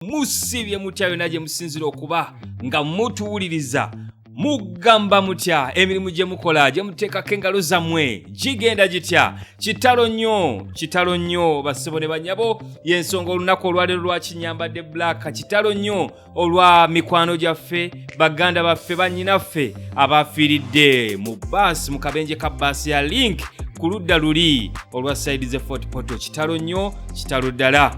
musiibye mutya yona gye musinzira okuba nga mutuwuliriza mugamba mutya emirimu gye mukola gye muteekako engalo zammwe gigenda gitya kitalo nnyo kitalo nnyo basebo ne banyabo y'ensonga olunaku olwaleero lwakinyambadde black kitalo nnyo olwa mikwano gyaffe baganda baffe bannyinaffe abaafiiridde mu baasi mu kabenje ka baasi ya link ku ludda luli olwa saidi ze fort poto kitalo nnyo kitalo ddala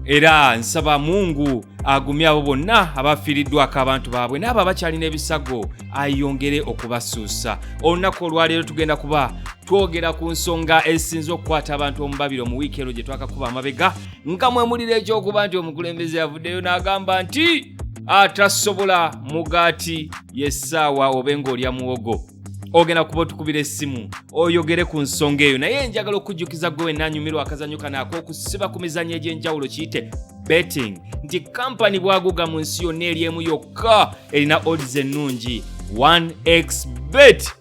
era nsaba mungu agumye abo bonna abafiiriddwako abantu baabwe n'abo abakyalina ebisago ayongere okubasuusa olunaku olwaleero tugenda kuba twogera ku nsonga esinza okukwata abantu omubabiro mu wiiki eno gye twakakuba amabega nga mwemulira ekyokuba nti omukulembeze yavuddeyo n'agamba nti atasobola mugaati yessaawa obe ng'olya muwogo ogenda kuba otukubira essimu oyogere ku nsonga eyo naye njagala okujjukiza gwe wenna anyumirwa akazanyo kano ak'okusiba ku mizanyo egy'enjawulo kiyite betting nti kampani bwaguga mu nsi yonna eri emu yokka erina odds ennungi 1x bet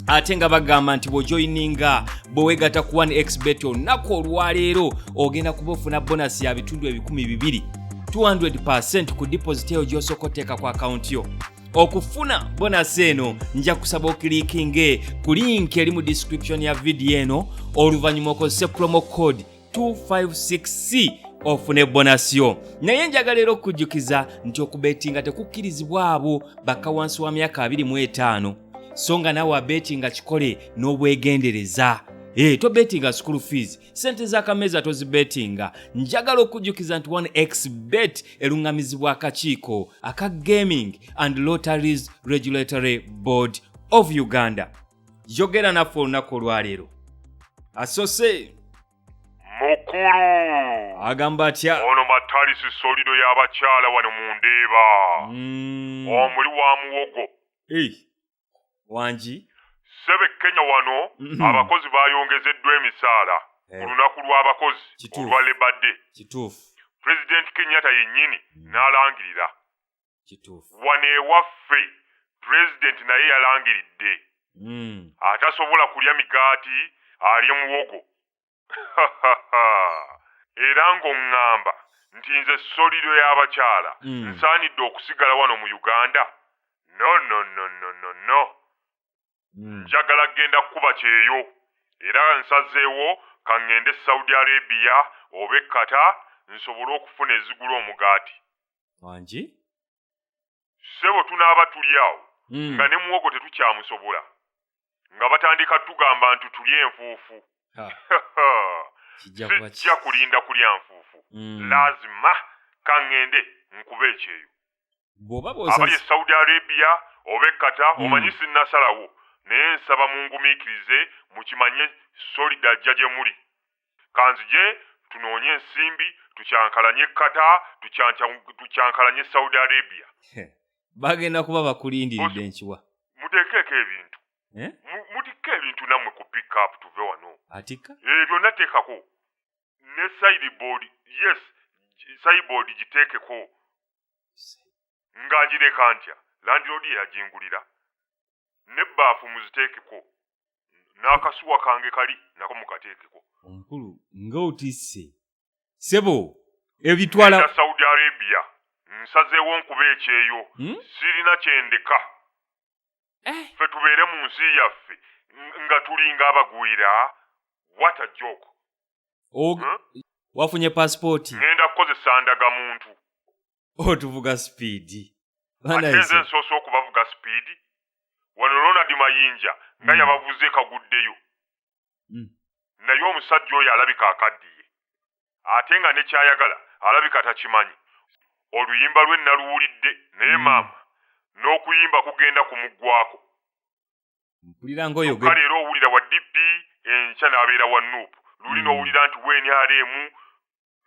ate nga bagamba nti bwojoyininga bwewegata ku 1x bet olunaku olwaleero ogenda kuba ofuna bonasi ya bitundu ebikumi bibiri 200 ku deposit eyo gyosooka oteeka ku akawunti yo okufuna bonasi eno nja kusaba okilikinge ku linki eri mu description ya vidiyo eno oluvannyuma okozese promo code 256c ofune bonasi yo naye njagala era okukujjukiza nti okubetinga tekukkirizibwa abo bakka wansi wa myaka 25 so nga naawe abetinga kikole n'obwegendereza e eh, tobetinga school fees sente z'akameeza tozibetinga njagala okujjukiza nti 1x bet eluŋŋamizibwa akakiiko aka gaming and lotteries regulatory board of uganda yogera naffe olunaku olwaleero asose mukulu agamba atya ono matalisi solido y'abakyala wano mu ndeeba mm. omuli wa muwogo wangi sebe kenya wano mm-hmm. abakozi bayongezeddwa emisaala ku eh. lunaku lw'abakozi olwa lebade kituufu pulezidenti kenyatta yennyini mm. n'alangirira kituufu wano ewaffe pulezidenti naye yalangiridde mm. atasobola kulya migaati alye muwogo era ng'oŋŋamba nti nze solido y'abakyala mm. nsaanidde okusigala wano mu uganda no no no no no no mm. njagala kugenda kukuba kyeyo era nsazeewo kaŋŋende saudi arabia oba ekkata nsobole okufuna ezigula omugaati wangi ssebo tunaaba tuli awo mm. nga ne muwogo tetukyamusobola nga batandika tugamba nti tulya enfuufu sijja kulinda kulya nfuufu mm. lazima kaŋŋende nkuba ekyeyo abali e saudi arabia oba ekkata mm. omanyi sinnasalawo naye nsaba mungumiikirize mukimanye solida ajja gye muli kanzije tunoonye ensimbi tukyankalanye kata tukyankalanye saudi arabia bagenda kuba bakulindiridde nkiwa mutekeeko ebintu eh? mutikka ebintu namwe ku pickup tuve wano atikka eh, byonna teekako ne sideboard yes sideboard giteekeko nga ngireka ntya landiroodi eyagingulira ne baafu muziteekeko n'akasuwa kange kali nako mukateekeko omukulu nga otisse sebo ebitwala saudi arabia nsazeewo nkuba ekyeyo hmm? sirina kyendeka eh. fe tubeere mu nsi yaffe nga tulinga abagwira what a joke Og huh? wafunye passport ngenda kukozesa ndaga muntu otuvuga oh, speed atenze nsoose okubavuga speed wano ronald mayinja nga hmm. yabavuze kaguddeyo hmm. naye omusajja oyo alabika akaddiye ate nga nekyayagala alabika takimanyi oluyimba lwe naluwulidde naye hmm. maama n'okuyimba kugenda ku muggwako mpulirangooyoka leero owulira wa dp enkya n'abeera wa nup luli hmm. n'owulira nti wnrm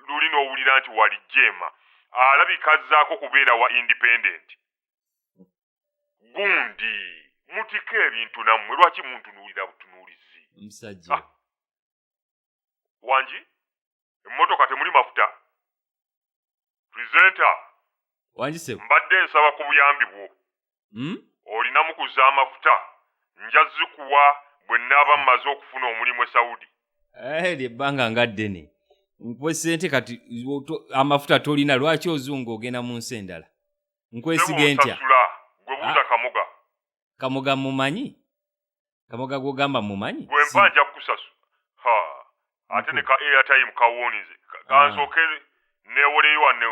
luli n'owulira nti walijjeema alabika azzaako kubeera wa independent gundi mutiko ebintu nammwe lwaki muntunuulira butunuulizi musajja ah. wangi emmotoka temuli mafuta presenta mbadde nsaba ku buyambi bwo hmm? olinamu ku z'amafuta nja zikuwa bwe nnaaba mmaze okufuna omulimu e saudi eh, lye bbanga nga ddene nkuwe ssente kati amafuta tolina lwaki ozunga ogenda mu nsi endala nkwesige ntya gwe buuza ah. kamoga kamoga mumanyi kamoga gwogamba mumanyi gwe mpa nja kukusasu ha ate ne ka airtime kawunize kansooke ah. newoleyo wane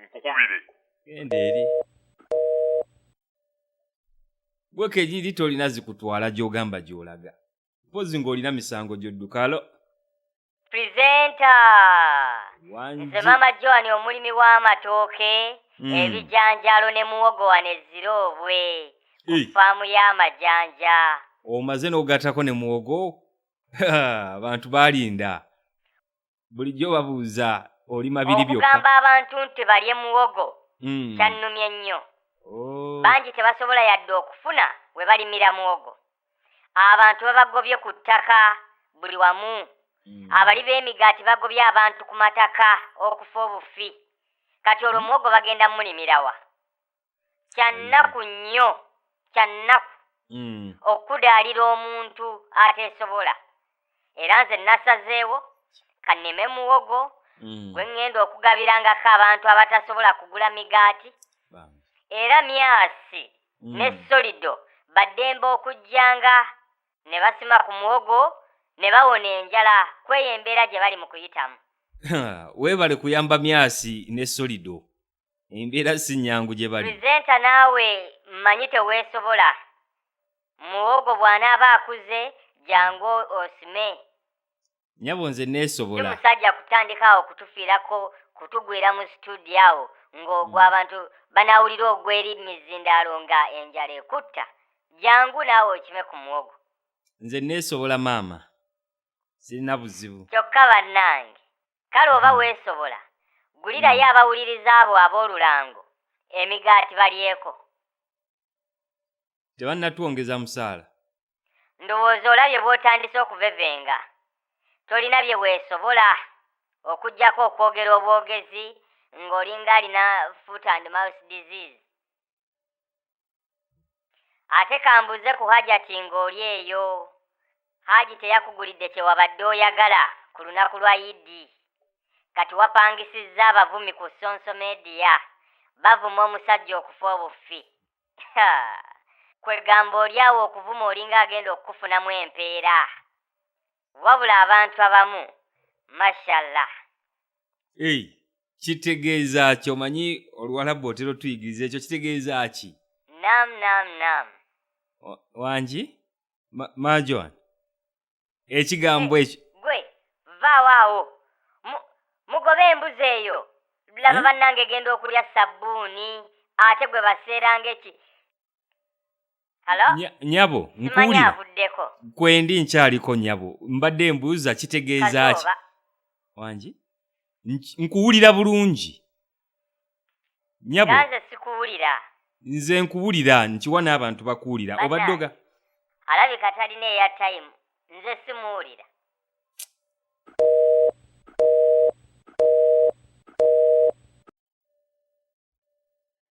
nkukubire genda eri gwe kegiri tolina zikutwala gyogamba gyolaga mpozi ng'olina misango gyodduka alo presenta nze mama joan omulimi w'amatooke hmm. ebijanjaalo ne muwogo wano ezira obwe ku faamu y'amajanja omaze n'ogatako ne muwogo abantu balinda bulijjo babuuza oli mabiri byokkaogamba abantu nti balye muwogo hmm. kyannumye nnyo oh. bangi tebasobola yadde okufuna we balimira muwogo abantu babagobye ku ttaka buli wamu hmm. abali b'emigaati bagobye abantu ku mataka okufa obufi kati olwo muwogo bagenda mulimirawa kyannaku hmm. nnyo kyannaku hmm. okudaalira omuntu ateesobola era nze nasazeewo kanime muwogo mm. gwe ŋŋenda okugabirangako abantu abatasobola kugula migaati era myasi mm. ne solido baddembe okujjanga ne basima ku muwogo ne bawona enjala kweyo embeera gye bali mu kuyitamu weebale kuyamba myasi ne solido embeera si nnyangu gye bali pulizenta naawe mmanyi teweesobola muwogo bw'anaaba akuze jangu osime nyabo nze neesobola musajja kutandika awo kutufiirako kutugwira mu situdiyo awo ng'ogwo hmm. abantu banaawulira ogweri mizindaalo nga enjala ekutta jangu naawe okime ku muwogo nze neesobola maama sirina buzibu kyokka bannange kale oba hmm. weesobola gulirayo hmm. abawuliriza abo ab'olulango emigaati balyeko tebannatwongeza musaala ndowooza olabye bw'otandise okuvevenga tolina bye weesobola okugyako okwogera obwogezi ng'olinga alina foot and mouse disease ate kambuuze ku hajati ng'oli eyo haji teyakugulidde kyewabadde oyagala ku lunaku lwa idi kati wapangisizza abavumi ku sonso media bavuma omusajja okufa obuffi kwegamba oli awo okuvuma olinga agenda okukufunamu empeera Wabula abantu abamu mashallah. Hey, kitegeeza ki omanyi oluwalabu otera otuyigiriza ekyo kitegeeza ki? Nam nam nam. Wangi? Ma, ma Joan. Ekigambo eh, ekyo. Gwe vaawo awo. Mugobe embuzi eyo. Laba eh? bannange genda okulya sabbuuni ate gwe baseeranga eki nyabo nkuwulira kwendi nkyaliko nyabo mbadde mbuuza kitegeeza ki wangi nkuwulira bulungi nyabo nze nkuwulira nkiwa n'abantu bakuwulira obaddoga alabika talina eya tayimu nze simuwulira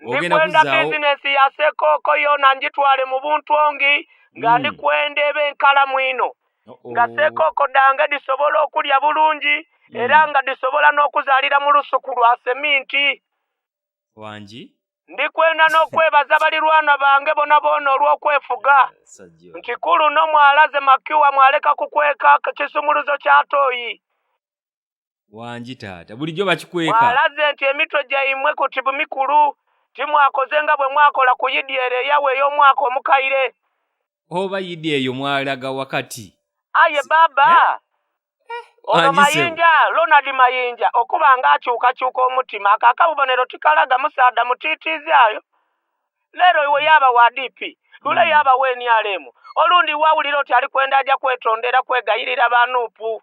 ndikwenda bizinesi ya sekooko yona ngitwale mu buntu ongi nga hmm. ndikwenda eba enkalamu ino nga sekooko dange disobola okulya bulungi hmm. era nga disobola n'okuzaalira mu lusuku lwa seminti wangi ndikwenda n'okwebaza balirwana bange bona boona olw'okwefuga nti kuluno mwalaze makiwa mwaleka kukweka kisumuluzo kya tooyi wangi taata bulijjo bakikweka alaze nti emitwe gyaimwe ku tibu mikulu timwakoze nga bwe mwakola ku yidi ero eyawe ey'omwaka omukaire oba yidi eyo mwalaga wakati aye baaba eh? ono mayinja lonald mayinja okuba nga akyukakyuka omutima ako akabubonero tikalaga musaada mutiitiizi ayo leero iwe yaaba wa dp lule hmm. yaaba wa nrm olundi wawulira oti ali kwenda aja kwetondera kwegayirira banuupu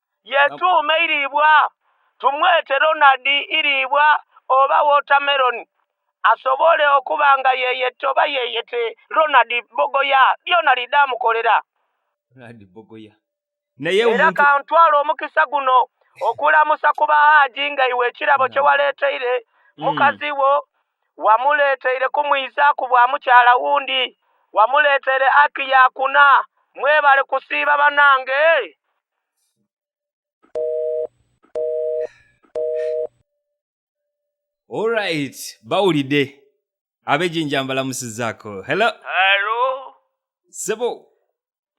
yetu umeiribwa tumwete Ronald iribwa oba watermelon asobole okuba nga yeyette oba yeyete Ronald Bogoya byona lidde amukolera Ronald Bogoya naye era kantwala omukisa guno okulamusa ku bahaaji nga iwe ekirabo kye waleeteire hmm. mukazi wo wamuleeteire kumwiza ku bwa mukyala wundi wamuleeteire aki yakuna mwebale kusiiba banange Alright, bawulidde ab'ejinja mbalamusizaako hello Alo, sebo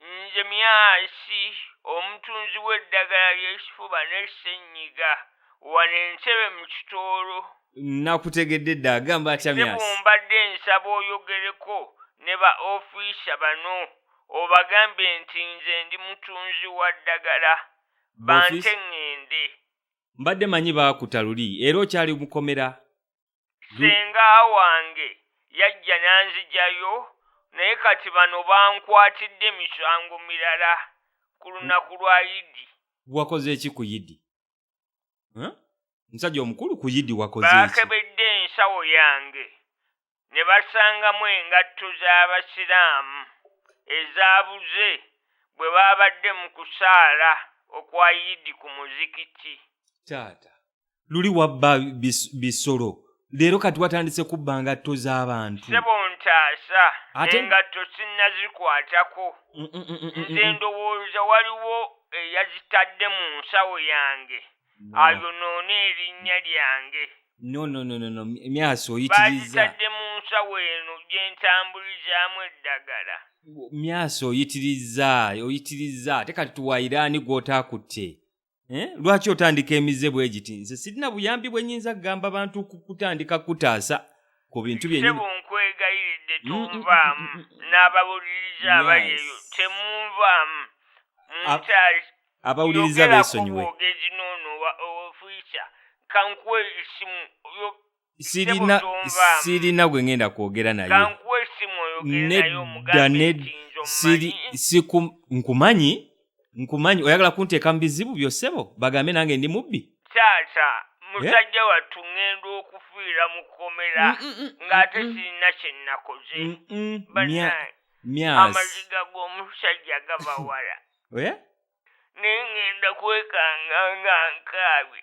nze myasi omutunzi w'eddagala ly'ekifuba ne ssenyiga wano entebe mu kitoolo nakutegedde dda agamba atya myasi nebumbadde nsaba oyogereko ne ba ofiisa bano obagambe nti nze ndi mutunzi wa ddagala bante ŋŋende mbadde manyi baakuta luli era okyali mukomera senga wange yajja n'anzijayo naye kati bano bankwatidde emisango mirala ku lunaku lwa yidi wakoze eki ku yidi Eh? omusajja omukulu ku yidi wakoze ki baakebedde ensawo yange ne basangamu engatto z'Abasiraamu ezaabuze bwe baabadde mu kusaala okwa Yidi ku muzikiti. taata luli wabba bis- bisolo leero kati watandise kubba ngatto z'abantu sebo ntaasa engatto sinnazikwatako mm, mm, mm, nze ndowooza waliwo eyazitadde mu nsawo yange ayonoona erinnya lyange nonononono myasi oyitirizazitadde mu nsawo eno gye ntambulizaamu eddagala myasi oyitiriza oyitiriza ate kati tuwairaani gw'otaakutte Eh, lwaki otandika emize bwe giti nze sirina buyambi bwe nyinza kugamba bantu kutandika kutaasa ku bintu byenyininkwegayiridde mm, mm, tonvaamu mm, n'abawuliriza abali eyo temunvaamu munkyali abawuliriza besonyiwe ogezi noono ofuisa kankuwa esimu sirina sirina gwe ngenda kwogera naye nedda nedda siri siku nkumanyi nkumanyi oyagala kunteeka mu bizibu byosebo bagambe nange ndi mubbi taata musajja eh? wattu ŋŋenda okufiira mu kkomera mm, mm, mm, ng'ate sirina kye nnakoze amaziga g'omusajja gava wala naye ŋŋenda kwekanga nga nkaabye